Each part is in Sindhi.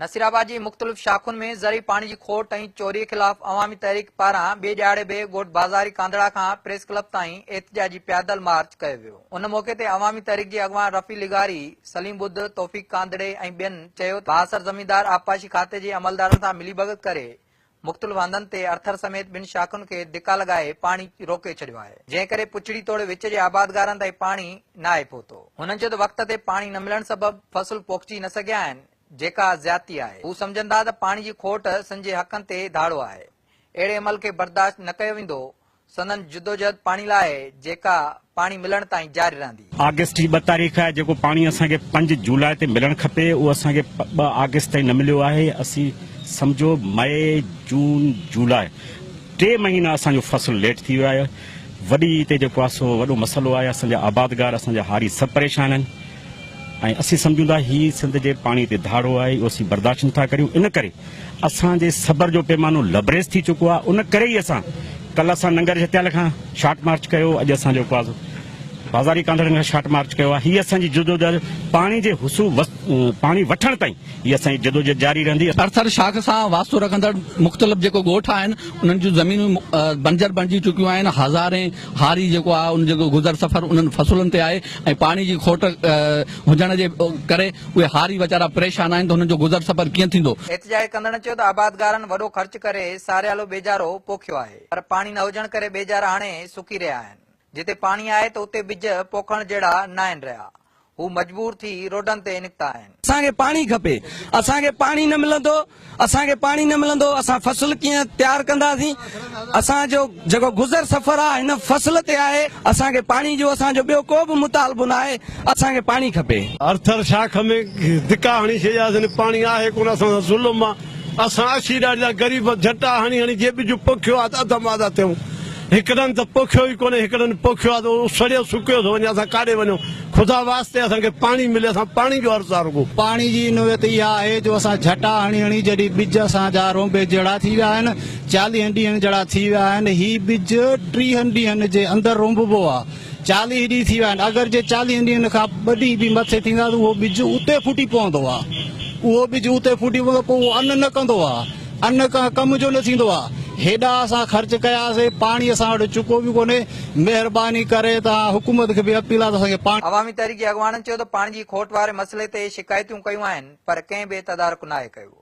نصيرآباد جي مختلف شاخن ۾ زرعي پاڻي جي کوٽ ۽ چوري خلاف عوامي تحريڪ پاران ٻئي ڏهاڙي به ڳوٺ بازاري ڪانڌڙا کان پريس ڪلب تائين احتجاجي پيادل مارچ ڪيو ويو ان موقعي تي عوامي تحريڪ جي اڳواڻ رفيع لغاري، سليم ٻڌ، توفيق ڪانڌڙي ۽ ٻين چيو ته بااثر زميندار آبپاشي کاتي جي عملدارن سان ملي ڀڳت ڪري مختلف هنڌن تي ارٿر سميت ٻن شاخن کي ڌڪا لڳائي پاڻي روڪي ڇڏيو آهي، جنهن ڪري پڇڙي توڙي وچ جي آبادگارن تائين پاڻي ناهي پهتو. هنن چيو ته وقت تي پاڻي نه ملڻ سبب فصل پوکجي نه سگهيا آهن، جيڪا زيادتي آهي. هو سمجهن ٿا ته پاڻي جي کوٽ سن جي حقن تي ڌاڙو آهي، اهڙي عمل کي برداشت نه ڪيو ويندو، سندن جدوجهد پاڻي لاء آهي، جيڪا پاڻي ملڻ تائين جاري رهندي. آگسٽ جي ٻه تاريخ آهي، جيڪو پاڻي اسان کي پنج جولاء تي ملڻ کپي، اهو اسان کي ٻه آگسٽ تائين نه مليو آهي، اسين سمجهو مئي، جون، جولاء ٽي مهينا اسان جو فصل ليٽ ٿي ويو آهي، وڏي عيد تي جيڪو آهي سو وڏو مسئلو آهي، اسان جا آبادگار، اسان جا هاري سڀ پريشان آهن. ۽ اسين سمجهون ٿا هي سنڌ جي پاڻي تي ڌاڙو آهي اهو اسين برداشت نٿا ڪريون ان ڪري اسان جي صبر جو پيمانو لبريز ٿي چڪو آهي ان ڪري ئي اسان ڪل اسان ننگر جتيال کان شارٽ مارچ ڪيو اڄ اسان جو ڪواز بازاري ڪانڌڙن کان شارٽ مارچ ڪيو آهي هي اسان جي جدوجهد پاڻي جي حصول پاڻي وٺڻ تائين هي اسان جي جدوجهد جاري رهندي ارٿر شاخ سان واسطو رکندڙ مختلف جيڪو ڳوٺ آهن انهن جون زمينون بنجر بڻجي چڪيون آهن هزارين هاري جيڪو آهي ان جو گذر سفر انهن فصلن تي آهي ۽ پاڻي جي کوٽ هجڻ جي ڪري اهي هاري ويچارا پريشان آهن ته هنن جو گذر سفر ڪيئن ٿيندو. احتجاج ڪندڙن چيو ته آبادگارن وڏو خرچ ڪري ساريالو ٻيجارو پوکيو آهي پر پاڻي نه هجڻ ڪري ٻيجارا هاڻي سڪي رهيا آهن، جتي پاڻي آهي ته اتي ٻج پوکڻ جهڙا ناهن رهيا، هو مجبور ٿي روڊن تي نڪتا آهن. اسان کي پاڻي کپي، اسان کي پاڻي نه ملندو، اسان کي پاڻي نه ملندو، اسان فصل ڪيئن تيار ڪنداسين، اسان جو جيڪو گذر سفر آ هن فصل تي آهي، اسان کي پاڻي جو اسان جو ٻيو ڪو به مطالبو ناهي، اسان کي پاڻي کپي. آرٿر شاخ ۾ ڌڪا هڻي ڇڏياسين، پاڻي آهي ڪونه، اسان سان ظلم آ. اسان اسيران جا غريب جهٽا هڻي هڻي جي ٻج پوکيو آ ته اڌ مادا ٿيون. هڪڙن ته پوکيو ئي ڪونهي، هڪڙن پوکيو آ ته سڙيو سڪيو ٿو وڃي، اسان ڪاڏي وڃون. خدا واسطي اسان کي پاڻي ملي، اسان پاڻي جو عرض آ رڳو. پاڻي جي نوعيت اها آهي جو اسان جهٽا هڻي هڻي جڏهن ٻج اسان جا رونبي جهڙا ٿي ويا آهن، چاليهن ڏينهن جهڙا ٿي ويا آهن، هي ٻج ٽيهن ڏينهن جي اندر رونببو آ. چاليهه ڏينهن ٿي ويا آهن اگر جي چاليهن ڏينهن کان ٻه ڏينهن به مٿي ٿيندا ته اهو ٻج اتي ڦٽي پوندو آهي اهو ٻج اتي ڦٽي پوندو پوء اهو ان نه ڪندو آهي ان ڪنهن ڪم جو نه ٿيندو آهي هيڏا اسان خرچ ڪياسين پاڻي اسان وٽ چڪو به ڪونهي مهرباني ڪري توهان حڪومت کي به اپيل آهي ته اسان کي پاڻي عوامي تحريڪ جي اڳواڻن چيو ته پاڻي جي کوٽ واري مسئلي تي شڪايتون ڪيون آهن پر ڪنهن به تدارڪ ناهي ڪيو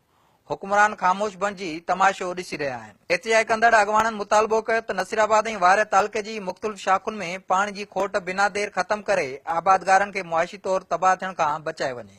حڪمران خاموش بڻجي تماشو ڏسي رهيا آهن. احتجاج ڪندڙ اڳواڻن مطالبو ڪيو ته نصيرآباد ۽ وارهه تعلقي جي مختلف شاخن ۾ پاڻي جي کوٽ بنا دير ختم ڪري آبادگارن کي معاشي طور تباهه ٿيڻ کان بچائي وڃي.